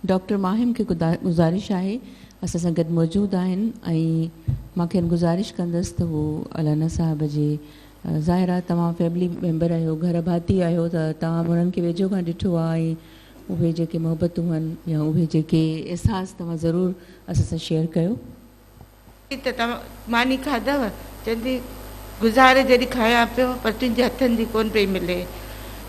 Doctor Maham کي گذارش آهي اسان سان گڏ موجود آهن ۽ مان کين گذارش ڪندس ته هو الانا صاحب جي ظاهر آهي توهان فيملي ميمبر آهيو گهر ڀاتي آهيو ته توهان انهن کي ويجهو کان ڏٺو آهي ۽ اهي جيڪي محبتون هن يا اهي جيڪي احساس توهان ضرور اسان سان شيئر ڪيو. ته توهان ماني کاڌئو؟ چوي ٿي، گذاري جيڏي کايان پيو، پر تنهنجي هٿن جي ڪونه پئي ملي.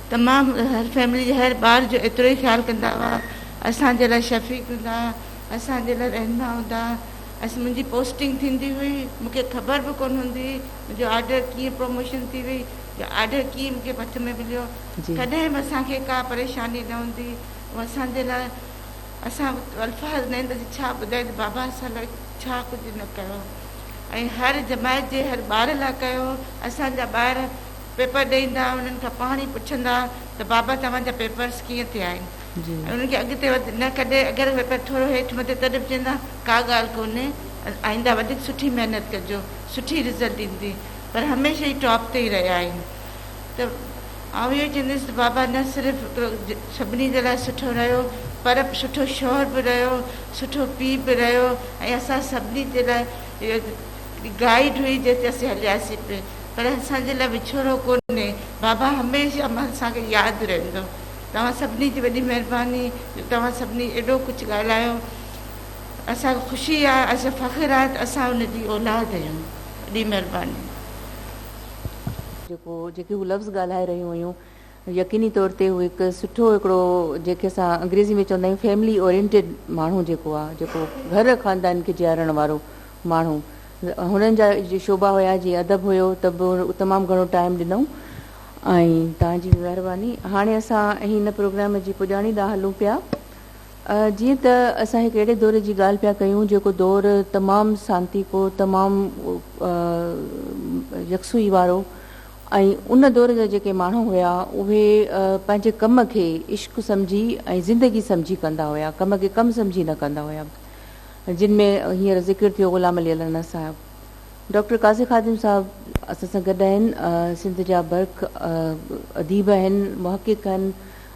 تمام هر فيملي جي هر ٻار جو ايترو ئي خيال ڪندا هئا. اسان جي لاء شفيق هوندا ها، اسان جي لاء رهنما هوندا ها. منهنجي پوسٽنگ ٿيندي هئي، مون کي خبر به ڪونه هوندي هئي، منهنجو آرڊر ڪيئن پروموشن ٿي وئي يا آرڊر ڪيئن مون کي ڀت ۾ مليو. ڪڏهن به اسان کي ڪا پريشاني نه هوندي هئي. هو اسان جي لاء اسان وٽ الفاظ ناهن ته ڇا ٻڌايون ته بابا اسان لاء ڇا ڪجهه نه ڪيو ۽ هر جماعت جي هر ٻار لاء ڪيو. اسان جا ٻار پيپر ڏئي ايندا ها انهن کان پاڻ ئي پڇندا ها ته بابا توهان جا پيپرس ڪيئن ٿيا آهن ۽ انهن کي اڳتي وڌ نه ڪڏهن اگر پيپر ٿورو هيٺ مٿي تڏهن به چوندا ڪا ڳالهه ڪونهي آئنده وڌيڪ سٺي محنت ڪجو سٺي رزلٽ ايندي پر هميشه ئي ٽاپ تي ئي رهيا آهن. ته آئون اهو چونديس ته بابا نه صرف هڪڙو سڀني جي لاء سٺو رهيو پر سٺو شوهر به رهيو، سٺو پيء به رهيو ۽ اسان سڀني جي لاء اهو گائيڊ هئي جنهن تي اسين هلياسين پئي پر اسان جي لاء وڇوڙو ڪونهي، بابا هميشه اسان کي ياد رهندو. توهان سڀني جي وڏي مهرباني جو توهان سڀني ايڏو ڪجهه ڳالهايو اسان کي خوشي آهي اسان کي فخر آهي ته اسان ان جي اولاد آهيون. وڏي مهرباني. جيڪو جيڪي هو لفظ ڳالهائي رهيون هيون يقيني طور تي هو هڪ سٺو هڪڙو جيڪي اسان انگريزي ۾ چوندا آهيون فيملي اورينٽيڊ ماڻهو جيڪو آهي جيڪو گهر خاندان کي جيارڻ وارو ماڻهو هنن جا شعبا هيا جي ادب هيو ته به تمام گهڻو ٽائيم ڏنائون ۽ توهان جي مهرباني هاڻي اسان هن پروگرام جي پڄاڻي ڏانهن هلون پيا جيئن ته اسان هڪ اهڙي دور جي ڳالهه پيا ڪيون جيڪو دور تمام سانتيڪو، تمام يڪسوئي وارو ۽ ان دور جا جيڪي ماڻهو هيا اهي پنهنجي ڪم کي عشق سمجهي ۽ زندگي سمجهي ڪندا هيا، ڪم کي ڪم سمجهي نه ڪندا هيا. جن ۾ هينئر ذڪر ٿيو غلام علي الحنه صاحب. ڊاڪٽر قاضي خادم صاحب اسان سان گڏ آهن، سنڌ جا برک اديب آهن، محقق آهن،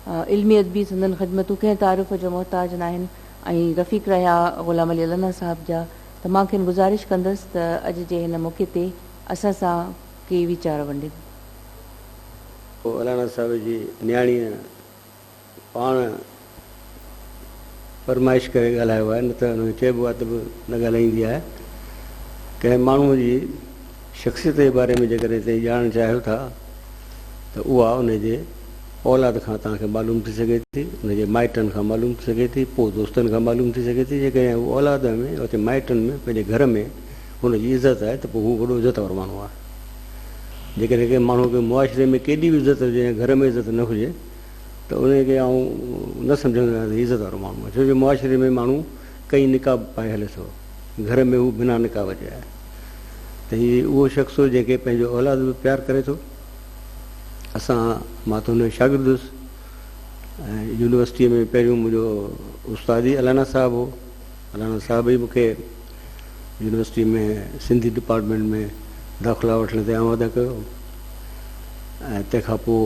علمي ادبي سندن خدمتون ڪنهن تعارف جو محتاج ناهن ۽ رفيق رهيا غلام علي الهنا صاحب جا ته مان کين گذارش ڪندس ته اڄ جي هن موقعي تي اسان سان ڪي ويچار ونڊين. پوء الهنا صاحب جي نياڻيء پاڻ فرمائش ڪري ڳالهايو آهي نه ته هن کي چئبو آهي ته به نه ڳالهائيندي آهي ڪنهن ماڻهوء جي. شخصيت جي باري ۾ جيڪڏهن تهين ڄاڻڻ چاهيو ٿا ته اها ان جي اولاد کان توهان کي معلوم ٿي سگهي ٿي، ان جي مائٽن کان معلوم ٿي سگهي ٿي، پوء دوستن کان معلوم ٿي سگهي ٿي، جيڪڏهن هو اولاد ۾ يا مائٽن ۾ پنهنجي گهر ۾ هن جي عزت آهي ته پوء هو وڏو عزت وارو ماڻهو آهي. جيڪڏهن ڪنهن ماڻهو کي معاشري ۾ ڪيڏي به عزت هجي ۽ گهر ۾ عزت نه هجي ته ان کي آئون نه سمجهندو آهيان ته هي عزت وارو ماڻهو آهي ڇو جو معاشري ۾ ماڻهو ڪئين نقاب پائي هلي ٿو. گهر ۾ هو بنا نڪاح وجهي آهي ته هي اهو شخص هو جنهن کي پنهنجو اولاد به پيار ڪري ٿو اسان مان ته هن جو شاگرد هيس يونيورسٽيء ۾ پهريون منهنجو استاد ئي الانا صاحب هو الانا صاحب ئي مونکي يونيورسٽيء ۾ سنڌي ڊپارٽمنٽ ۾ داخلا وٺڻ تي آماده ڪيو ۽ تنهن کان پوء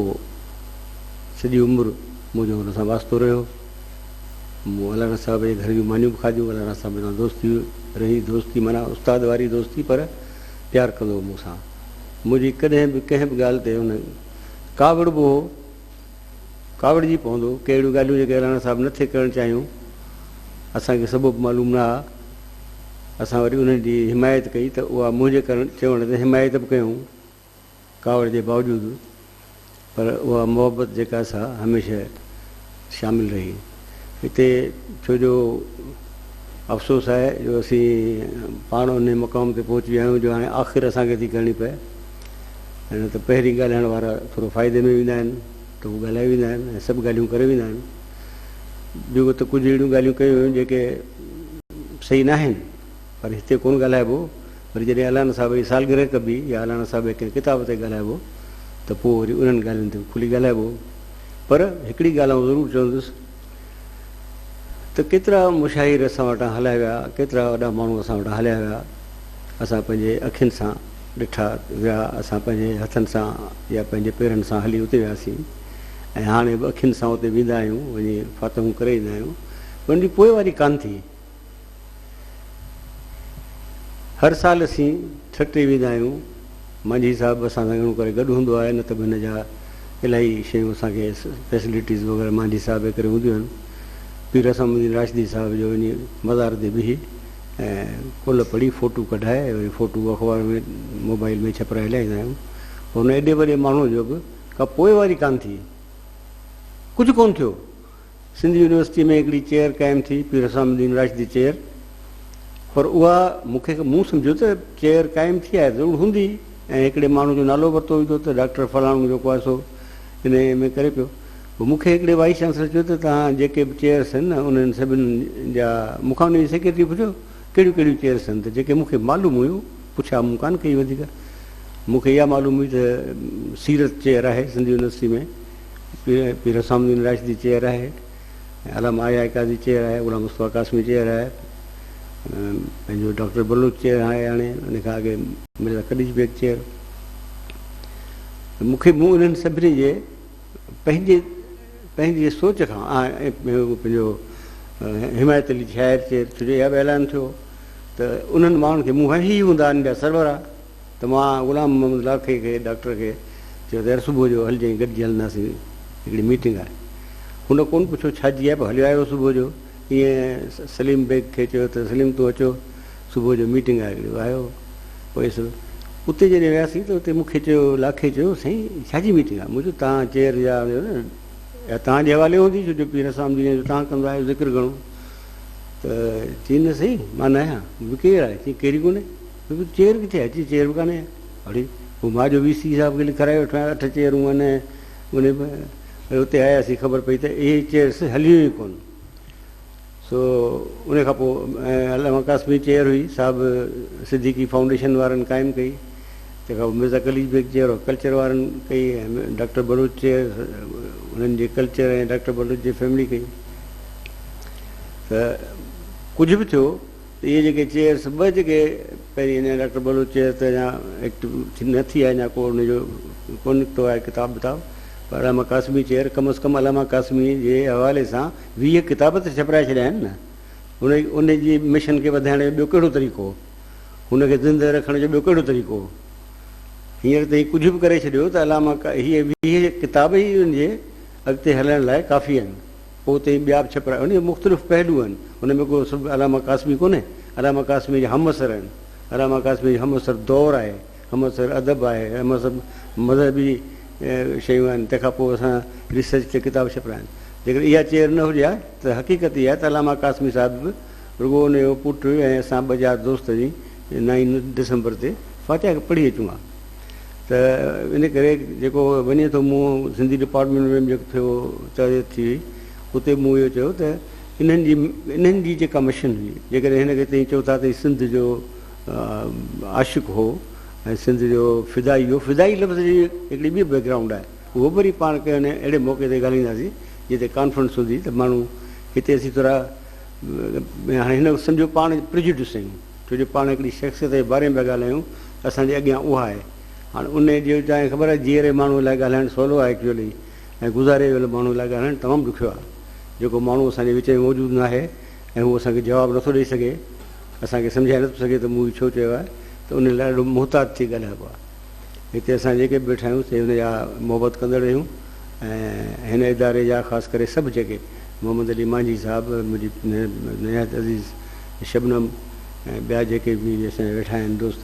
سڄي عمر منهنجو هن سان واسطو رهيو مون الانا صاحب جي گهر جون مانيون به کاڌيون. الانا صاحب سان دوستي رهي. دوستي معنيٰ استاد واري دوستي پر پيار ڪندو هو مون سان. منهنجي ڪڏهن به ڪنهن به ڳالهه تي هن ڪاوڙبو هو. ڪاوڙجي پوندو هو. ڪي اهڙيون ڳالهيون جيڪي الانا صاحب نه ٿي ڪرڻ چاهيون. اسان کي سبب معلوم نه ها. اسان وري انهن جي حمايت ڪئي ته اها منهنجي ڪرڻ چوڻ تي حمايت به ڪيائون. ڪاوڙ جي باوجود پر اها محبت جيڪا سا هميشه شامل رهي هتي ڇو جو افسوس آهي جو اسين پاڻ انهي مقام تي پهچي ويا آهيون جو هاڻي آخر اسان کي ٿي ڪرڻي پئي نه ته پهرين ڳالهائڻ وارا ٿورو فائدي ۾ ويندا آهن ته هو ڳالهائي ويندا آهن ۽ سڀ ڳالهيون ڪري ويندا آهن ٻيو ته ڪجهه اهڙيون ڳالهيون ڪيون ويون جيڪي صحيح ناهن پر هتي ڪونه ڳالهائبو، وري جڏهن الانا صاحب جي سالگرهه ڪبي يا الانا صاحب جي ڪنهن ڪتاب تي ڳالهائبو ته پوء وري انهن ڳالهين تي به کلي ڳالهائبو. پر هڪڙي ڳالهه آئون ضرور چوندس ته ڪيترا مشاهير اسان وٽان هليا ويا، ڪيترا وڏا ماڻهو اسان وٽان هليا ويا، اسان پنهنجي اکين سان ڏٺا ويا، اسان پنهنجي هٿن سان يا پنهنجي پيرن سان هلي اتي وياسين ۽ هاڻي به اکين سان اتي ويندا آهيون، وڃي فاتحون ڪري ايندا آهيون، پر ان جي پوئواري ڪانه ٿي. هر سال اسين ٺٽي ويندا آهيون. مانجهي صاحب اسان سان گهڻو ڪري گڏ هوندو آهي نه ته به هن جا الائي شيون اسان کي فيسلٽيز وغيره مانجهي صاحب جي ڪري هونديون آهن. پير حسن الدين راشدي صاحب جو وڃي مزار تي بيهي ۽ ڪل پڙهي فوٽو ڪڍائي وري فوٽو اخبار ۾ موبائل ۾ ڇپرائي لهائيندا آهيون پر هن ايڏي وڏي ماڻهو جو به ڪا پوئواري ڪانه ٿي ڪجهه ڪونه ٿيو. سنڌ يونيورسٽيء ۾ هڪڙي چيئر قائم ٿي، پير حسام الدين راشدي چيئر، پر اها مون کي مون سمجهيو ته چيئر قائم ٿي آهي ضرور هوندي ۽ هڪڙي ماڻهو جو نالو ورتو ويندو ته ڊاڪٽر فلاڻو جيڪو آهي سو ان ايم اي ڪري پيو. پوء مون کي هڪڙي وائيس چانسلر چيو ته توهان جيڪي به چيئرس هن نه انهن سڀن جا مون کان انهيء جي سيڪريٽريء پڇيو ڪهڙيون ڪهڙيون چيئرس هن ته جيڪي مون کي معلوم هيون پڇا مون ڪانه ڪئي وڌيڪ مون کي اها معلوم هئي ته سيرت چيئر آهي سنڌ يونيورسٽيء ۾ پير حسام الدين راشدي چيئر آهي ۽ علامه آء آء قاضي چيئر آهي غلام مصطفيٰ قاسمي چيئر آهي پنهنجو ڊاڪٽر بلوچ چيئر آهي هاڻي ان کان اڳي مرزا قديش بيگ چيئر مون کي مون انهن سڀني جي پنهنجي پنهنجي سوچ کان پنهنجو حمايت علي شاعر چيئر ڇو جو اها به اعلان ٿيو ته انهن ماڻهن کي مون هي هوندا انهن جا سربراهه ته مان غلام محمد لاکي کي، ڊاڪٽر کي، چيو ته يار صبح جو هلجانء گڏجي هلنداسين هڪڙي ميٽنگ آهي. هن ڪونه پڇيو ڇاجي آهي پر هليو آيو صبح جو ائين سليم بيگ کي چيو ته سليم تون اچو صبح جو ميٽنگ آهي هڪڙي آيو پويس اتي جڏهن وياسين ته اتي مونکي چيو لاکي چيو سائين ڇاجي ميٽنگ آهي مون چيو تان چيئر يا يا تان جي حوالي هوندي ڇو جو پير اسام جي جو تان ڪندا آهيو ذڪر گهڻو ته چين نه سائين مان نه آهيان ڪير آهي چين ڪيري ڪونهي ڪيونڪه چيئر ڪٿي آهي، چيئر به ڪانهي. اڙي، هو مان جو وي سي صاحب کي لکرائي وٺو ها، اٺ چيئرون آهن ۽ انهي ۾ وري اتي آياسين خبر پئي ته اهي چيئرس هليون ئي ڪونه. سو انهي کان پوء علامه قاسم جي چيئر هئي، سا به صديقي فائونڊيشن وارن قائم ڪئي. تنهن کان پوء Mirza Qalich Beg chair of culture وارن ڪئي ۽ ڊاڪٽر بلوچ چيئر انهن جي ڪلچر ۽ ڊاڪٽر بلوچ جي فيملي ڪئي. ته ڪجهه به ٿيو، اهي جيڪي چيئرس ٻه جيڪي پهرين اڃا ڊاڪٽر بلوچ چيئر تي اڃا ايڪٽو نه ٿي آهي اڃا ڪو ان جو ڪو نڪتو آهي ڪتاب وتاب پر علامه قاسمي چيئر ڪم از ڪم علامه قاسمي جي حوالي سان ويهه ڪتاب ته ڇپرائي ڇڏيا آهن نه ان ان جي مشن کي وڌائڻ جو ٻيو ڪهڙو طريقو هن کي زنده رکڻ جو ٻيو ڪهڙو طريقو هينئر تائين ڪجهه به ڪري ڇڏيو ته علامه هي ويهه ڪتاب ئي ان جي اڳتي هلڻ لاء ڪافي آهن پوء اتي ٻيا به ڇپراء ان جا مختلف پهلو آهن. ان ۾ ڪو صرف علامه قاسمي ڪونهي. علامه قاسميء جا همعصر آهن. علامه قاسميء جو همعصر دور آهي، همعصر ادب آهي، همعصر مذهبي شيون آهن. تنهن کان پوء اسان ريسرچ تي ڪتاب ڇپرايا آهن. جيڪڏهن اها چير نه هجي ها ته حقيقت اها آهي ته علامه قاسمي صاحب به رڳو ان جو پٽ ۽ اسان ٻه چار دوست وڃي نائين ڊسمبر تي فاتحه پڙهي اچون ها. ته ان ڪري جيڪو وڃي ٿو مون سنڌي ڊپارٽمينٽ ۾ به جيڪو ٿيو تربيت ٿي وئي اتي مون اهو چيو ته انهن جي انهن جي جيڪا مشن هئي جيڪڏهن هن کي تئين چئو ٿا ته هي سنڌ جو عاشق هو ۽ سنڌ جو فدائي هو فدائي لفظ جي هڪڙي ٻي بيڪ گرائونڊ آهي اهو به وري پاڻ ڪنهن اهڙي موقعي تي ڳالهائينداسين جتي ڪانفرنس هوندي ته ماڻهو هتي اسين ٿورا هاڻي هن سمجهو پاڻ پرجڊيوس آهيون ڇو جو پاڻ هڪڙي شخصيت جي باري ۾ پيا ڳالهايون ته اسان جي اڳيان اها آهي هاڻ ان جو تانکي خبر آهي جيئري ماڻهو لاء ڳالهائڻ سولو آهي ايڪچوئلي ۽ گذاري ويل ماڻهو لاء ڳالهائڻ تمام ڏکيو آهي جيڪو ماڻهو اسان جي وچ ۾ موجود ناهي ۽ هو اسان کي جواب نٿو ڏئي سگهي اسان کي سمجهائي نٿو سگهي ته مون هي ڇو چيو آهي ته ان لاء ڏاڍو محتاط ٿي ڳالهائبو آهي. هتي اسان جيڪي به ويٺا آهيون سي هن جا محبت ڪندڙ رهيون ۽ هن اداري جا خاص ڪري سڀ جيڪي محمد علي مانجهي صاحب منهنجي نهايت عزيز شبنم ۽ ٻيا جيڪي به اسان جا ويٺا آهن دوست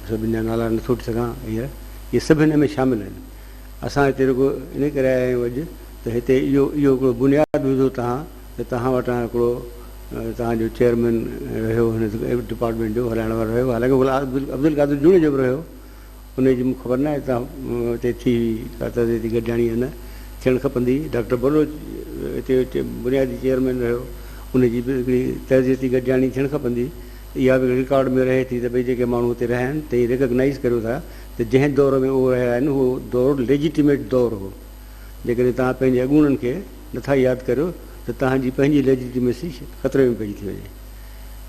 سڀن جا نالا نٿو وٺي سگهان هينئر اهي سڀ هن ۾ شامل آهن اسان هتي رڳو ان ڪري آيا آهيون اڄ ته هتي اهو اهو هڪڙو بنياد وڌو تهان ته توهان وٽان هڪڙو توهان جو چيئرمين رهيو هن ڊپارٽمينٽ جو هلائڻ وارو رهيو حالانڪه غلام عبدالقادر جوڻيجو به رهيو انهي جي مون کي خبر ناهي ته اتي ٿي هئي ڪا تربيتي گڏجاڻي يا نه ٿيڻ کپندي ڊاڪٽر بلوچ اتي بنيادي چيئرمين رهيو انهي جي به هڪڙي تربيتي گڏجاڻي ٿيڻ کپندي اها به رڪارڊ ۾ رهي ٿي ته ڀئي جيڪي ماڻهو اتي رهيا آهن تهي ريڪگنائيز ڪريو ٿا ته جنهن دور ۾ اهي رهيا آهن اهو دور ليجيٽيميٽ دور هو جيڪڏهن توهان پنهنجي اڳوڻن کي نه ٿا ياد ڪريو ته توهان جي پنهنجي ليجيٽيمسي خطري ۾ پئجي ٿي وڃي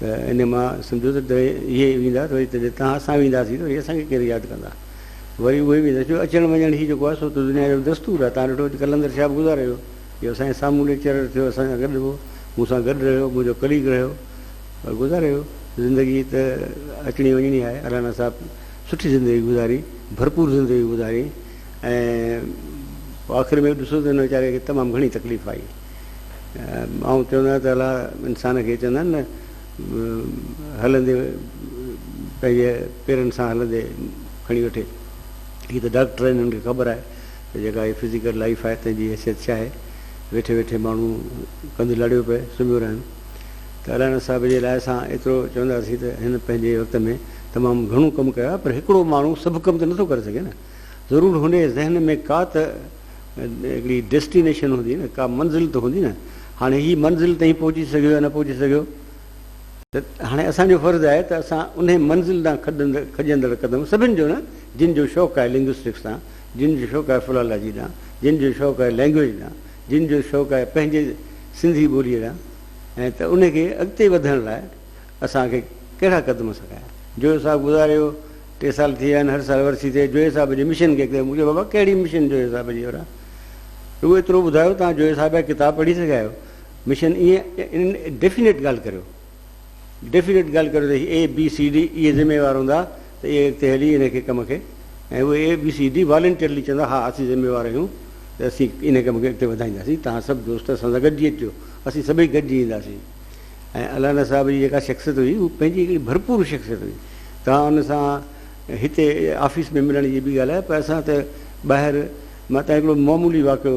ته ان مان سمجهو ته اهي ويندا ته وري ته جي توهان اسان وينداسين ته وري اسان کي ڪير ياد ڪندا وري اهي ويندا جو اچڻ وڃڻ هي جيڪو آهي سو ته دنيا جو دستور آهي توهان ڏٺو اڄ قلندر شاهه به گذاري ويو اهو اسان جي سامهون ليڪچرر ٿيو اسان سان گڏ هو مون سان گڏ رهيو منهنجو ڪليگ رهيو پر گذاري ويو زندگي ته اچڻي وڃڻي آهي الانا صاحب سٺي زندگي گذاري ڀرپور زندگي گذاري ۽ آخر ۾ ڏسو ته هن ويچاري کي تمام گهڻي تڪليف آئي. آئون چوندو آهيان ته الا انسان کي چوندا آهن نه هلندي پنهنجي پيرن سان هلندي کڻي وٺي. هي ته ڊاڪٽر آهن هنن کي خبر آهي ته جيڪا هي فزيڪل لائيف آهي تنهن جي حيثيت ڇا آهي. ويٺي ويٺي ماڻهو ڪنڌ لڙيو پئي سمهيو رهن. ته الانا صاحب جي لاء اسان ايترو چونداسين ته هن پنهنجي وقت ۾ تمام گهڻو ڪم ڪيو آهي پر هڪڙو ماڻهو سڀ ڪم ته نٿو ڪري سگهي نه. ضرور هن جي ذهن ۾ ڪا ته هڪڙي ڊيسٽينيشن هوندي نه، ڪا منزل ته هوندي نه، هاڻي هي منزل تائين پهچي سگهيو يا نه پهچي سگهيو ته هاڻي اسان جو فرض آهي ته اسان انهي منزل ڏانهن کڄندڙ قدم سڀن جو نه جن جو شوق آهي لنگوسٽڪس ڏانهن، جن جو شوق آهي فلالاجي ڏانهن، جن جو شوق آهي لينگويج ڏانهن، جن جو شوق آهي پنهنجي سنڌي ٻوليء ڏانهن ته انهي کي اڳتي وڌڻ لاء اسان کي ڪهڙا قدم سکايا. جويو صاحب گذاريو ٽي سال ٿي ويا آهن هر سال ورسي تي جويو صاحب جي مشن کي ڪيو مون چيو بابا ڪهڙي مشن جويو صاحب جي وران رڳو ايترو ٻڌايو توهان جويو صاحب جا ڪتاب پڙهي سگهيا آهيو مشن ائين ڊيفينيٽ ڳالهه ڪريو ڊيفينيٽ ڳالهه ڪريو ته اي بي سي ڊي اهي ذميوار هوندا ته اهي اڳتي هلي ان کي ڪم کي ۽ اهي A B C D voluntarily چوندا ها اسين ذميوار آهيون ته اسين ان ڪم کي اڳتي وڌائينداسين توهان سڀ دوست اسان سان گڏجي اچجو اسين سڀئي گڏجي اينداسين ۽ الانا صاحب جي جيڪا شخصيت هئي اها پنهنجي هڪڙي ڀرپور شخصيت هئي. توهان ان سان هتي آفيس ۾ ملڻ جي به ڳالهه آهي پر اسان ته ٻاهر مان تان هڪڙو معمولي واقعو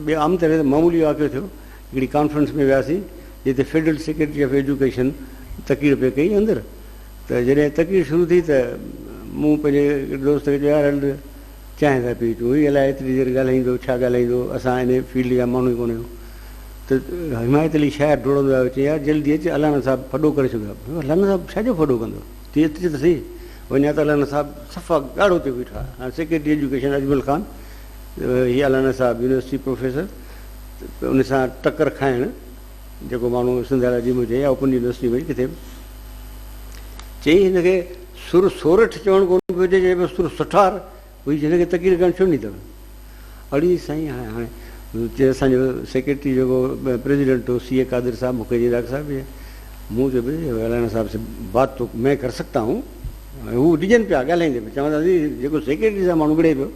ٻي عام طرح تي معمولي واقعو ٿيو هڪڙي ڪانفرنس ۾ وياسين جتي فيڊرل سيڪريٽري آف ايجوڪيشن تقرير پئي ڪئي اندر ته جڏهن تقرير شروع ٿي ته مون پنهنجي هڪڙي دوست کي چيو يار هل چانهه ٿا پي اچون، هي الائي ايتري دير ڳالهائيندو، ڇا ڳالهائيندو، اسان ان فيلڊ جا ماڻهو ئي ڪونه آهيون. ته حمايت علي شاعر ڊوڙندو آيو، چيائين، يار جلدي اچ، الانا صاحب ڦڏو ڪري ڇڏيو آهي. مون چيو، الانا صاحب ڇا جو ڦڏو ڪندو، تون اچ ته سهي. وڃان ته الانا صاحب صفا ڳاڙهو ٿيو بيٺو آهي. هاڻ سيڪريٽري ايجوڪيشن اجمل خان، هي الانا صاحب يونيورسٽي پروفيسر، ان سان ٽڪر کائڻ. جيڪو ماڻهو سنڌ جي عديم هجي يا اوپن يونيورسٽي ۾ ڪٿي به چئي هن کي سر سورٺ چوڻ ڪونه پيو اچي چئي پيو سر سٺار وئي هن کي تقرير ڪرڻ ڇو نه ايندو اڙي سائين هاڻي هاڻي چي اسان جو سيڪريٽري جيڪو پريزيڊنٽ هو سي اي قادر صاحب مون کي چي ڊاڪٽر صاحب مون چيو بھي رانا صاحب سي بات تو مين ڪر سگھتا هون هو ڊڄن پيا ڳالهائيندي پيا چون ٿا جيڪو سيڪريٽري صاحب ماڻهو وڙهي پيو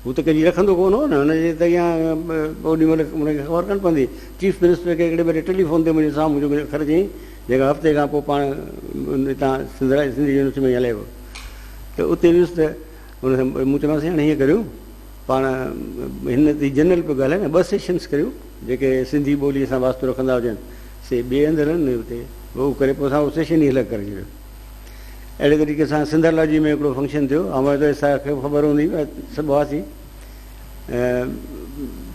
هو ته ڪجهه رکندو ڪونه هو نه، هن جي ته اها اوڏي مهل هن کي خبر ڪانه پوندي. چيف منسٽر کي هڪڙي ڀيري ٽيلي فون تي منهنجي سامهون جهڪي اکر چيائين، جيڪا هفتي کان پوء پاڻ هتان سنڌ سنڌي يونيورسٽي ۾ ئي هلائي ويو ته اتي ويس ته هن سان مون چيومانس سائين هاڻي هيئن ڪريون پاڻ هن تي جنرل پيو ڳالهائي نه ٻه سيشنس ڪريون جيڪي سنڌي ٻولي سان واسطو رکندا هجن سي ٻئي هنڌ هلن نه هتي هو ڪري پوء اسان اهو سيشن ئي الڳ ڪري ڇڏيو. اهڙي طريقي سان سنڌر لاجي ۾ هڪڙو فنڪشن ٿيو هوائن ته اسان کي خبر هوندي سڀ هئاسين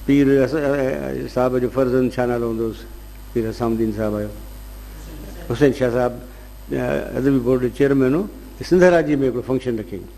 پير صاحب جو فرزند ڇا نالو هوندو هوس پير حسام الدين صاحب آيو حسين شاهه صاحب ادبي بورڊ جو چيئرمين هو سنڌر لاجي ۾ هڪڙو فنڪشن رکيائين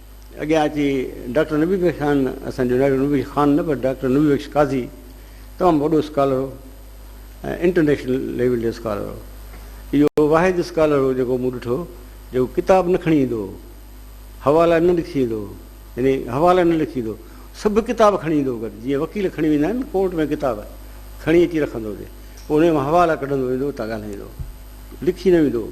اڳيان اچي ڊاڪٽر نبي بخش خان، اسان جو ڊاڪٽر نبي بخش خان نه پر ڊاڪٽر نبي بخش قاضي تمام وڏو اسڪالر هو ۽ انٽرنيشنل ليول جو اسڪالر هو. اهو واحد اسڪالر هو جيڪو مون ڏٺو جيڪو ڪتاب نه کڻي ايندو هو، حوالا نه لکي ايندو هو، يعني حوالا نه لکي ايندو هو، سڀ ڪتاب کڻي ايندو هو گڏ، جيئن وڪيل کڻي ويندا آهن ڪورٽ ۾ ڪتاب کڻي اچي رکندو هو اتي، پوء انهيء مان حوالا ڪڍندو ويندو هو، اتان ڳالهائيندو هو، لکي نه ويندو هو.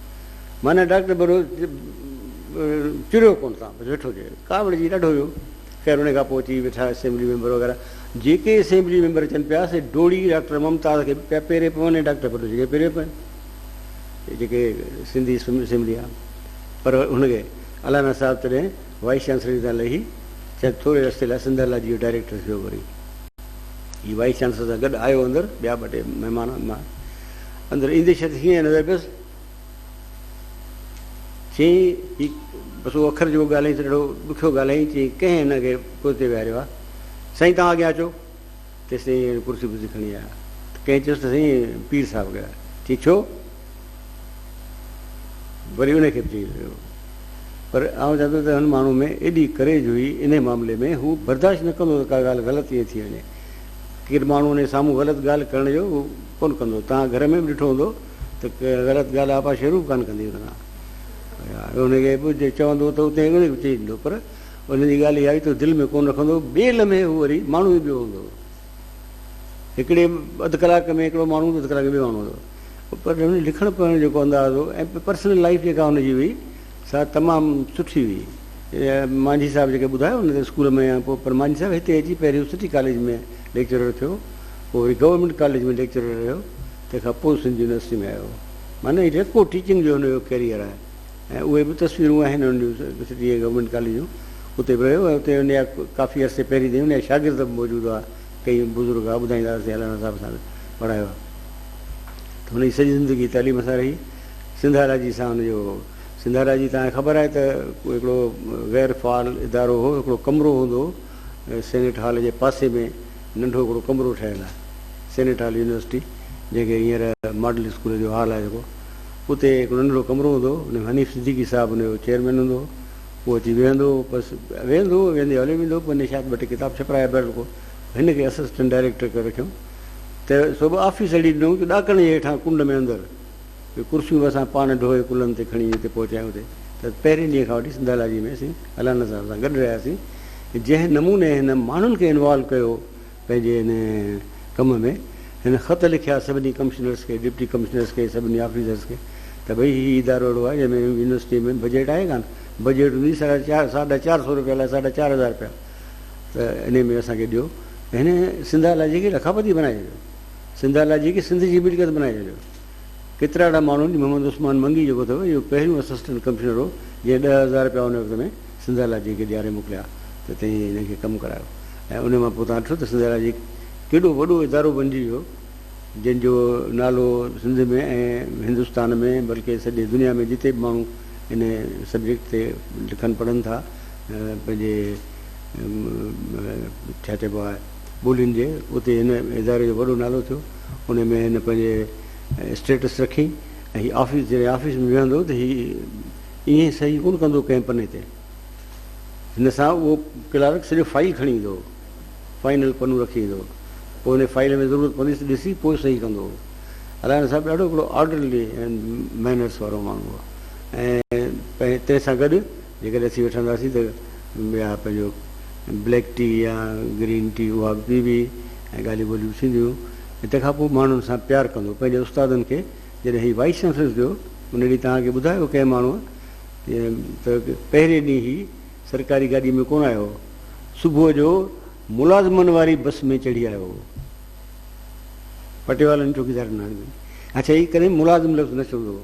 معنيٰ ڊاڪٽر بروهي چريو ڪونه تان بس ويٺو چي ڪاوڙ جي ڏاڍو هيو خير ان کان پوء اچي ويٺا اسيمبلي ميمبر وغيره جيڪي اسيمبلي ميمبر اچن پيا سي ڊوڙي ڊاڪٽر ممتاز کي پيا پيري پون ۽ ڊاڪٽر بروهي کي پيري پون جيڪي سنڌي اسيمبلي آ پر هن کي الانا صاحب تڏهن وائيس چانسلر تان لهي شايد ٿوري عرصي لاء سنڌ الاجي جو ڊائريڪٽر ٿيو وري هي وائيس چانسلر سان گڏ آيو اندر ٻيا ٻه ٽي مهمان اندر ايندي شخص کي ائين نظر پيس. چيائين، هي بس اهو اکر جيڪو ڳالهيائين سو ڏاڍو ڏکيو ڳالهيائين. چيائين، ڪنهن هن کي پوئتي ويهاريو آهي؟ سائين توهان اڳيان اچو. تيستائين هن ڪرسي ورسي کڻي آيا ته ڪنهن چيس ته سائين پير صاحب ڳايا. چيائين، ڇو؟ وري انهي کي به چيائين ويهو. پر آئون چوان ٿو ته هن ماڻهوء ۾ ايڏي ڪريج هئي انهي معاملي ۾ هو برداشت نه ڪندو هو ته ڪا ڳالهه غلط ٿي وڃي. ڪير ماڻهو انهي سامهون غلط ڳالهه ڪرڻ جو هو ڪونه ڪندو. توهان گهر ۾ به ڏٺو هوندو ته غلط ڳالهه آپا شروع به ڪانه ڪندي هوندي آهي. اهو هن کي به جي چوندو ته اتي هن کي به چئي ڏيندو پر هن جي ڳالهه اها هئي ته دل ۾ ڪونه رکندو هو. ٻئي لمحي هو وري ماڻهو ئي ٻيو هوندو هو. هڪڙي اڌ ڪلاڪ ۾ هڪڙو ماڻهو هوندو هو اڌ ڪلاڪ ۾ ٻيو ماڻهو هوندو هو. پر هن جو لکڻ پڙهڻ جو جيڪو انداز هو ۽ پرسنل لائيف جيڪا هن جي هئي، سا تمام سٺي هئي. مانجهي صاحب جيڪي ٻڌايو ان تي اسڪول ۾ آيان پوء پر مانجهي صاحب هتي اچي پهريون سٽي ڪاليج ۾ ليڪچرر ٿيو پوء وري گورنمينٽ ڪاليج ۾ ليڪچرر رهيو تنهن کان پوء سنڌ يونيورسٽي ۾ آيو معنيٰ هي ريڪو ٽيچنگ جو هن جو ڪيريئر آهي ۽ اهي به تصويرون آهن ان جون سٽي ۽ گورنمينٽ ڪاليج جون اتي به رهيو ۽ اتي ان جا ڪافي عرصي پهرين تائين ان جا شاگرد به موجود هئا ڪئي بزرگ هئا ٻڌائيندا اسين علامه صاحب سان به پڙهايو آهي ته هن جي سڄي زندگي تعليم سان رهي سنڌاراجي سان ان جو سنڌاراجي تان خبر آهي ته هڪڙو غير فعال ادارو هو هڪڙو ڪمرو هوندو هو سينيٽ هال جي پاسي ۾ ننڍو هڪڙو ڪمرو ٺهيل آهي سينيٽ هال يونيورسٽي جنهن کي هينئر ماڊل اسڪول جو هال آهي جيڪو اتي هڪڙو ننڍڙو ڪمرو هوندو هو ان ۾ حنيف صديقي صاحب ان جو چيئرمين هوندو هو هو اچي ويهندو هو بس ويهندو هو ويهندي هليو ويندو هو پوء هن شايد ٻه ٽي ڪتاب ڇپرايا بهرحال ڪو هن کي اسسٽنٽ ڊائريڪٽر ڪري رکيو ته سو به آفيس اهڙي ڏنو جو ڏاڪڻ جي هيٺان ڪنڊ ۾ اندر اهي ڪرسيون به اسان پاڻ ڍوئي ڪلهن تي کڻي جتي پهچايون اتي ته پهرين ڏينهن کان وٺي سنڌالاجي ۾ اسين الانا صاحب سان گڏ رهياسين جنهن نموني هن ماڻهن کي انوالو ڪيو پنهنجي هن ڪم ۾ هن خط لکيا سڀني ڪمشنرس کي ڊپٽي ڪمشنرس کي سڀني آفيسرس کي ته ڀئي هي ادارو اهڙو آهي جنهن ۾ يونيورسٽي ۾ بجيٽ آهي ڪانه بجيٽ هوندي ساڍا چار ساڍا چار سو روپيا لاء ساڍا چار هزار روپيا ته انهي ۾ اسان کي ڏيو هن سنڌالاجي کي لکاپتي بنائي ڇڏيو سنڌ آلا جي کي سنڌ جي ملڪيت بنائي ڇڏيو. ڪيترا اھڙا ماڻھو جي محمد عثمان منگي جيڪو اٿئو اھو پهريون اسسٽنٽ ڪمشنر ھو جنهن ڏهه ھزار رپيا ان وقت ۾ سنڌ آلا جي کي ڏياري موڪليا ته تنهن هن کي ڪم ڪرايو ۽ انهي مان پوء تان ڏٺو ته سنڌ آلا جي ڪيڏو وڏو ادارو بنجي ويو جنهن جو نالو سنڌ ۾ ۽ هندستان ۾ بلڪه سڄي دنيا ۾ جتي به ماڻھو ان سبجيڪٽ تي لکن پڙھن ٿا پنهنجي ڇا چئبو آ ٻولين جي اتي هن اداري جو وڏو نالو ٿيو انهي ۾ هن پنهنجي اسٽيٽس رکي ۽ هي آفيس جڏهن آفيس ۾ ويهندو ته هي ائين صحيح ڪونه ڪندو ڪنهن پني تي هن سان اهو ڪلارڪ سڄو فائل کڻي ايندو هو فائنل پنو رکي ايندو هو پوء ان فائل ۾ ضرورت پوندي ته ڏسي پوء صحيح ڪندو هو علائن صاحب ڏاڍو هڪڙو آرڊرلي مينرس وارو ماڻهو هو ۽ تنهن سان گڏ جيڪڏهن اسين وٺنداسين ته يا پنهنجو بليڪ ٽي يا گرين ٽي اها به پيبي ۽ ڳالهيون ٻولهيون به ٿينديون ۽ تنهن کان پوء ماڻهن سان پيار ڪندو پنهنجي استادن کي جڏهن هي وائيس چانسلر ٿيو ان ڏينهن توهان کي ٻڌايو ڪنهن ماڻهوء ته پهرين ڏينهن هي سرڪاري گاڏي ۾ ڪونه آيو صبح جو ملازمن واري بس ۾ چڙهي آيو هو پٽيوالن چوڪيدارن اڇا هي ڪڏهن ملازم لفظ نه چوندو هو.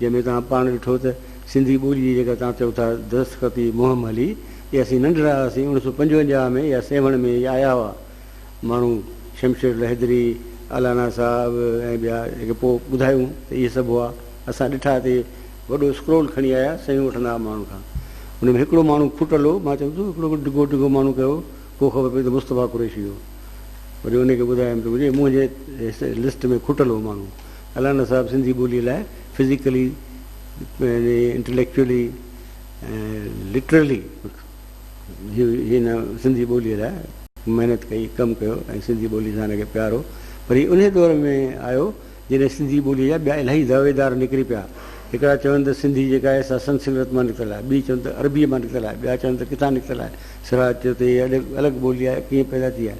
جنهن ۾ توهان پاڻ ڏٺو ته سنڌي ٻولي جي جيڪا توهان چئو ٿا درستخطي مهم هلي ته اسين ننڍڙا هئاسين اوڻ سؤ پنجونجاهه ۾ يا سيوهڻ ۾ ئي آيا هئا ماڻهو شمشير لهدري، الانا صاحب ۽ ٻيا جيڪي پوء ٻڌايون ته اهي سڀ هئا اسان ڏٺا اتي وڏو اسڪرول کڻي آيا صحيحون وٺندا هئا ماڻهن کان ان ۾ هڪڙو ماڻهو ڦٽل هو مان چيم ته هڪڙو ڊگهو ڊگهو ماڻهو ڪهڙو هو پوء خبر پئي ته مصطفيٰ قريشي هو وري ان کي ٻڌايم ته منهنجي منهنجي لسٽ ۾ کٽل هو ماڻهو الانا صاحب سنڌي ٻوليء لاء فزيڪلي، انٽليڪچوئلي ۽ لٽرلي هن سنڌي ٻوليء لاء. محنت ڪئي، ڪم ڪيو ۽ سنڌي ٻولي سان هن کي پيار هو پر هي انهي دور ۾ آيو جڏهن سنڌي ٻوليء جا ٻيا الاهي دعويدار نڪري پيا. هڪڙا چون ته سنڌي جيڪا آهي سا سنسڪرت مان نڪتل آهي، ٻي چون ته عربيء مان نڪتل آهي، ٻيا چون ته ڪٿان نڪتل آهي. سراج چيو ته هيء الڳ ٻولي آهي، ڪيئن پيدا ٿي آهي.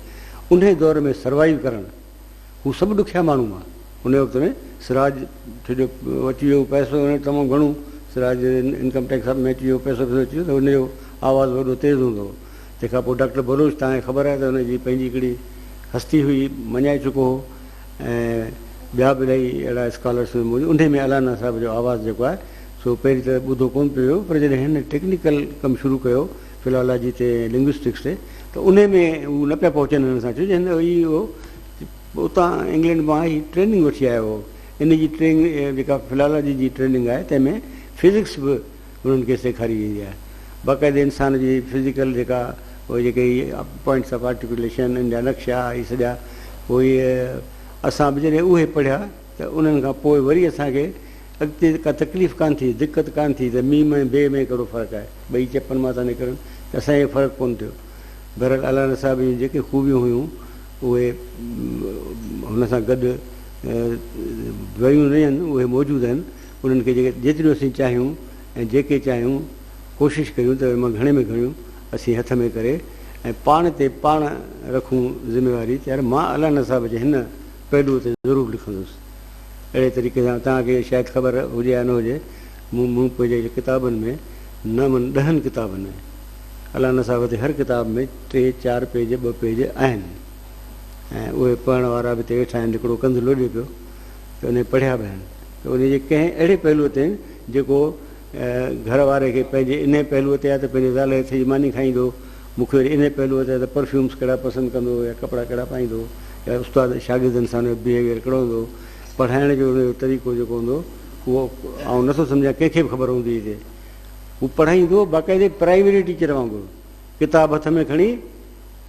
انهي دور ۾ سروائيو ڪرڻ. هو سڀ ڏکيا ماڻهو هئا. انهيء وقت ۾ سراج ٿيو جو اچي ويو پئسو هن وٽ تمام گهڻو، سراج جي انڪم ٽيڪس سڀ ۾ اچي ويو پئسو پئسو اچي ويو ته هن جو آواز وڏو تيز هوندو هو. تنهن کان پوء ڊاڪٽر بلوچ توهان کي خبر آهي ته هن جي پنهنجي هڪڙي هستي هئي، مڃائي چڪو هو ۽ ٻيا به الائي اهڙا اسڪالرس هئي موجود انهيء ۾ الانا صاحب جو آواز جيڪو آهي سو پهرين ته ٻڌو ڪونه پيو ويو پر جڏهن هن ٽيڪنيڪل ڪم شروع ڪيو، فلالاجي تي ۽ لنگوسٽڪس تي ته انهي ۾ هو نه پيا پهچن هن سان ڇو جو هن هي هو اتان انگلينڊ مان هي ٽريننگ وٺي آيو هو ان جي ٽرينگ جيڪا فلالاجي جي ٽريننگ آهي تنهن ۾ فزڪس به انهن کي سيکاري ويندي آهي باقاعدي انسان جي فزيڪل جيڪا هو جيڪي هي پوائنٽس آف آرٽيڪوليشن ان جا نقشا هي سڄا پوء اسان به جڏهن اهي پڙهيا ته انهن کان پوء وري اسان کي اڳتي ڪا تڪليف ڪانه ٿي، دقت ڪانه ٿي ته ميم ۽ بي ۾ ڪهڙو فرق آهي، ٻئي چپن مان ٿا نڪرن ته اسان کي فرق ڪونه ٿيو. بهرحال الانا صاحب جون جيڪي خوبيون هيون اهي هن سان گڏ ويون نه آهن، اهي موجود آهن، انهن کي جيتريون اسين چاهيون ۽ جيڪي چاهيون ڪوشش ڪريون ته ان مان گهڻي ۾ گهڻيون اسين هٿ ۾ ڪري ۽ پاڻ تي پاڻ رکون ذميواري ته يار مان الانا صاحب جي هن پهلوء تي ضرور لکندس. اهڙي طريقي سان توهان کي شايد خبر هجي يا نه هجي، مون مون پنهنجي ڪتابن ۾ نامن ڏهن ڪتابن ۾، الله نصاف تي هر ڪتاب ۾ ٽي چار پيج ٻه پيج آهن ۽ اهي پڙهڻ وارا به اتي ويٺا آهن، هڪڙو ڪنڌ لوڏي پيو ته انهي پڙهيا به آهن ته انهي جي ڪنهن اهڙي پهلوء تي جيڪو گهر واري کي پنهنجي انهي پهلوء تي آهي ته پنهنجي زال هٿ جي ماني کائيندو، مون کي وري انهي پهلوء تي آهي ته پرفيومز ڪهڙا پسند ڪندو يا ڪپڙا ڪهڙا پائيندو يا استاد شاگردن سان هن جو بهيويئر ڪهڙو هوندو، پڙهائڻ جو هن جو طريقو جيڪو هوندو اهو آئون نه ٿو سمجهان ڪنهن کي به خبر هوندي هجي. هو پڙهائيندو باقاعدي پرائمري ٽيچر وانگر ڪتاب هٿ ۾ کڻي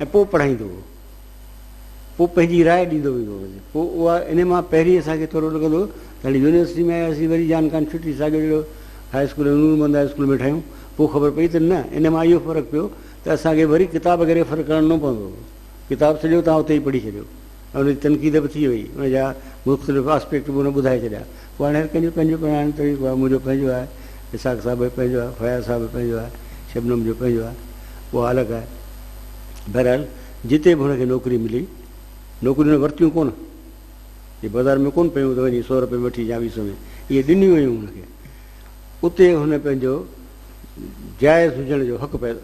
۽ پوء پڙهائيندو هو. پوء پنهنجي راء ڏيندو ويندو هئس. پوء اها انهي مان پهرين اسان کي ٿورو لڳندو هو ته هاڻي يونيورسٽي ۾ آياسين وري جان کان ڇٽي ساڳيو جهڙو high school ۽ Noor Muhammad high school ۾ ٺاهيون. پوء خبر پئي ته نه انهي مان اهو فرق پيو ته اسان کي وري ڪتاب کي ريفر ڪرڻو پوندو هو. ڪتاب سڄو توهان اتي ئي پڙهي ڇڏيو ۽ ان جي تنقيد به ٿي وئي ان جا مختلف آسپيڪٽ به هن ٻڌائي ڇڏيا. پوء هاڻي هر ڪنهن جو پنهنجو پڙهائڻ جو طريقو آهي. منهنجو پنهنجو آهي. اسحاق صاحب جو پنهنجو آهي. فياض صاحب جو پنهنجو آهي. شبنم جو پنهنجو آهي. اها الڳ آهي. بهرحال. جتي به هن کي نوڪري ملي، نوڪريون هن ورتيون ڪونه، جي بازار ۾ ڪونه پيون ته وڃي سؤ رپئي ۾ وٺي يا ويهه سؤ ۾ اهي ڏنيون ويون هن کي. اتي هن پنهنجو جائز هجڻ جو حق پنهنجو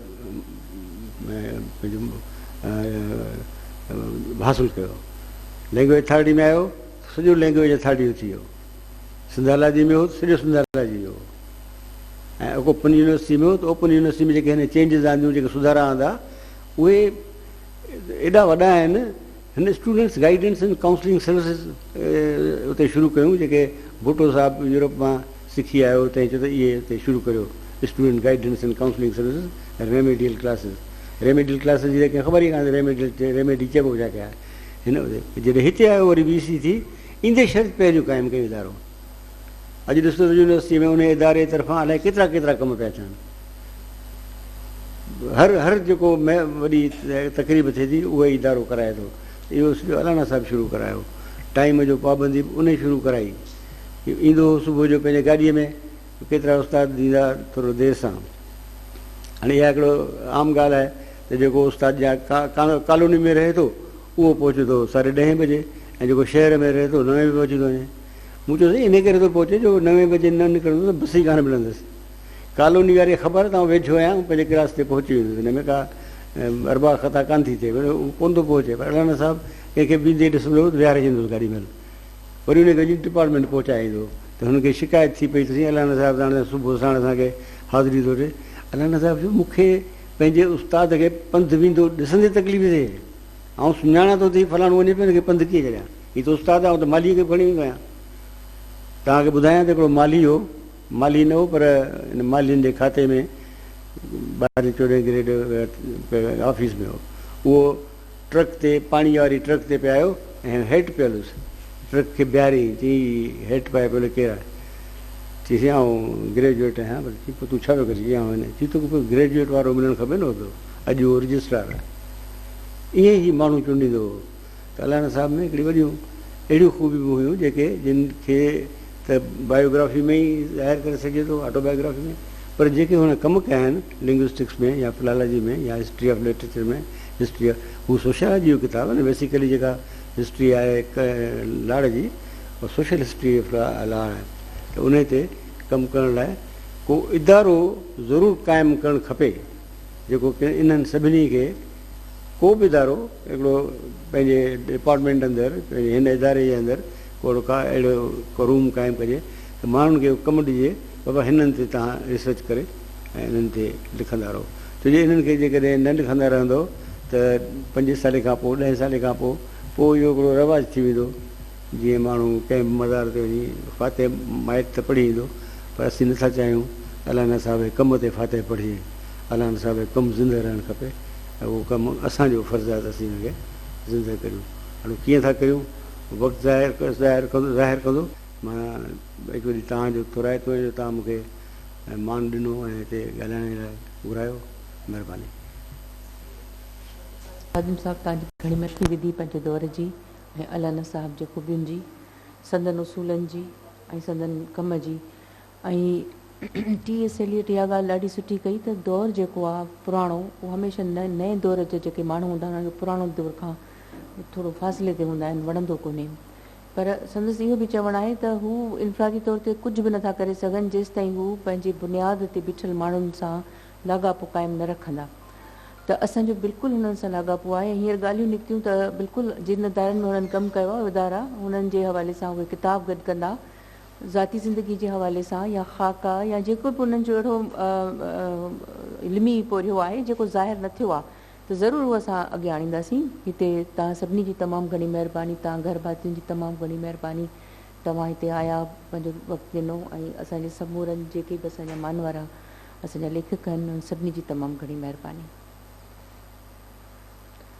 حاصل ڪيو. لينگويج اٿارٽي ۾ آيو ته سڄو لينگويج اٿارٽي جو ٿي ويو. سنڌالاجي ۾ هو ته سڄو سنڌالاجي جو هو. ۽ اوپن يونيورسٽي ۾ هو ته اوپن يونيورسٽي ۾ جيڪي هن چينجز آنديون، جيڪي سڌارا آندا، اهي ايڏا وڏا آهن. هن students guidance and counselling services اتي شروع ڪيون جيڪي ڀٽو صاحب يورپ مان سکي آيو تنهن چيو ته اهي اتي شروع ڪريو student guidance and counselling services remedial classes remedial classes جي ته ڪنهن خبر ئي ڪانه ريميڊيل ريميڊي چئبو به ڇا کي آهي هن جڏهن هتي آيو وري بي سي ٿي ايندي شرط پهريون قائم ڪيون ادارو اڄ ڏسو ته يونيورسٽيء ۾ انهيء اداري طرفان الائي ڪيترا ڪيترا ڪم پيا ٿين. هر هر جيڪو وڏي تقريب ٿئي ٿي، اهو ئي ادارو ڪرائي ٿو. اهو سڄو الانا صاحب شروع ڪرايو. ٽائيم جو پابندي به انهيء شروع ڪرائي. ايندو هو صبح جو پنهنجي گاڏيء ۾، ڪيترا استاد به ايندا ٿورو دير سان. هاڻي اها هڪڙو عام ڳالهه آهي ته جيڪو استاد جا ڪالوني ۾ رهي ٿو، اهو پهچندو ساڍي ڏهين بجي ۽ جيڪو شهر ۾ رهي ٿو، نوين بجي پهچي ٿو وڃي. مون چيس ته انهي ڪري ٿو پهچين جو نوين بجي نه نڪرندس ته بس ئي ڪانه ملندس. ڪالوني واري کي خبر آهي ته آئون ويجهو آهيان آئون پنهنجي ڪلاس تي پهچي ويندس هن ۾ ڪا اربع خطا ڪانه ٿي ٿئي پر هو ڪونه ٿو پهچي پر الانا صاحب ڪنهن کي بيهندي ڏسندو ته ويهاري ڇڏيندوس گاڏي مهل وري انهي کي وڃي ڊپارٽمينٽ پهچائي ايندو ته هن کي شڪايت ٿي پئي ته سائين الانا صاحب ته هاڻي صبح ساڻ اسان کي حاضري ٿو ڏي الانا صاحب چيو مون کي پنهنجي استاد کي پنڌ ويندو ڏسندي تڪليف ٿئي آئون سڃاڻان ٿو ته هي فلاڻو وڃي پيو هن کي پنڌ ڪيئن ڇڏيان. هي ته استاد آهي، آئون ته مالهيء کي به کڻي ويندو آهيان. توهان کي ٻڌايان ته هڪڙو مالهي هو، مالهي نه هو پر ان مالهين جي کاتي ۾ ٻاهرين چوڏهين گريڊ آفيس ۾ هو. اهو ٽرڪ تي پاڻيء واري ٽرڪ تي پئي آيو ۽ هيٺ پيل هوس. ٽرڪ کي بيهاريائين، چيائين، هي هيٺ پائي پيل ڪير آهي؟ چيسين، آئون گريجوئيٽ آهيان. پر چيائين، پوء تون ڇا پيو ڪرين؟ چيائين، آئون هن. چيائين، توکي پوء گريجوئيٽ وارو ملڻ کپي نه هو ته اڄ اهو رجسٽرار آهي. ائين ئي هي ماڻهو چونڊيندو هو. ساليانه صاحب ۾ هڪڙيون وڏيون اهڙيون خوبيون به هيون جيڪي جن کي ته بائيوگرافي ۾ ئي ظاهر ڪري سگهجي ٿو، آٽو بائيوگرافي ۾، پر جيڪي هن ڪم ڪيا آهن لنگوسٽڪس ۾ يا فلالاجي ۾ يا history of literature ۾ history of هو سوشيالاجي جو ڪتاب آهي نه بيسيڪلي جيڪا هسٽري آهي لاڙ جي اها سوشل هسٽري آف لاڙ آهي ته انهي تي ڪم ڪرڻ لاء ڪو ادارو ضرور قائم ڪرڻ کپي جيڪو انهن سڀني کي ڪو به ادارو هڪڙو پنهنجي ڊپارٽمينٽ اندر پنهنجي هن اداري جي اندر ڪو هڪڙو ڪا اهڙو ڪو روم قائم ڪجي ته ماڻهن کي ڪم ڏجي بابا هنن تي توهان ريسرچ ڪري ۽ انهن تي لکندا رهو ڇو جو انهن کي جيڪڏهن نه لکندا رهندو ته پنجين سالين کان پوء ڏهين سالين کان پوء پوء اهو هڪڙو رواج ٿي ويندو جيئن ماڻهو ڪنهن به مزار تي وڃي فاتح مائٽ ته پڙهي ايندو پر اسين نه ٿا چاهيون ته الانا صاحب جي ڪم تي فاتح پڙهجي. الانا صاحب جو ڪم زندهه رهڻ کپي ۽ اهو ڪم اسان جو فرض آهي ته اسين ان کي زندهه ڪريون. اهو ڪيئن ٿا ڪريون وقت ظاهر ڪندو ظاهر ڪندو. مان هڪ وري توهان جو ٿورائتو آهيان جو توهان مون کي مان ڏنو ۽ هتي ڳالهائڻ لاء گهرايو. مهرباني. خادم صاحب توهان جي گهڻي مشهوري وڌي پنهنجي دور جي ۽ الانا صاحب جي خوبين جي، سندن اصولن جي ۽ سندن ڪم جي ۽ ٽي ايس ايليٽ اها ڳالهه ڏاڍي سٺي ڪئي ته دور جيڪو آ پراڻو اهو هميشه نئين دور جا جيڪي ماڻهو هوندا آهن انهن کي پراڻو دور کان ٿورو فاصلي تي هوندا آهن وڻندو ڪونهي پر سندس اهو به چوڻ آهي ته هو انفرادي طور تي ڪجهه به نٿا ڪري سگهن جيستائين هو پنهنجي بنياد تي بيٺل ماڻهن سان لاڳاپو قائم نه رکندا ته اسان جو بلڪل هنن سان لاڳاپو آهي ۽ هينئر ڳالهيون نڪتيون ته بلڪل جن ادارن ۾ هنن ڪم ڪيو آهي ادارا هنن جي حوالي سان اهي ڪتاب گڏ ڪندا ذاتي زندگي جي حوالي سان يا خاڪا يا جيڪو به انهن جو اهڙو علمي پورهيو آهي جيڪو ظاهر نه ٿيو آهي ته ضرور اهو اسان اڳيان آڻينداسين هتي توهان سڀني جي تمام گهڻي مهرباني توهان گهر ڀاتين جي تمام گهڻي مهرباني توهان هتي آيا پنهنجو وقت ڏنو ۽ اسان جي سمورن جيڪي به اسان جا مانوارا اسان جا ليکڪ آهن انهن سڀني جي تمام گهڻي مهرباني.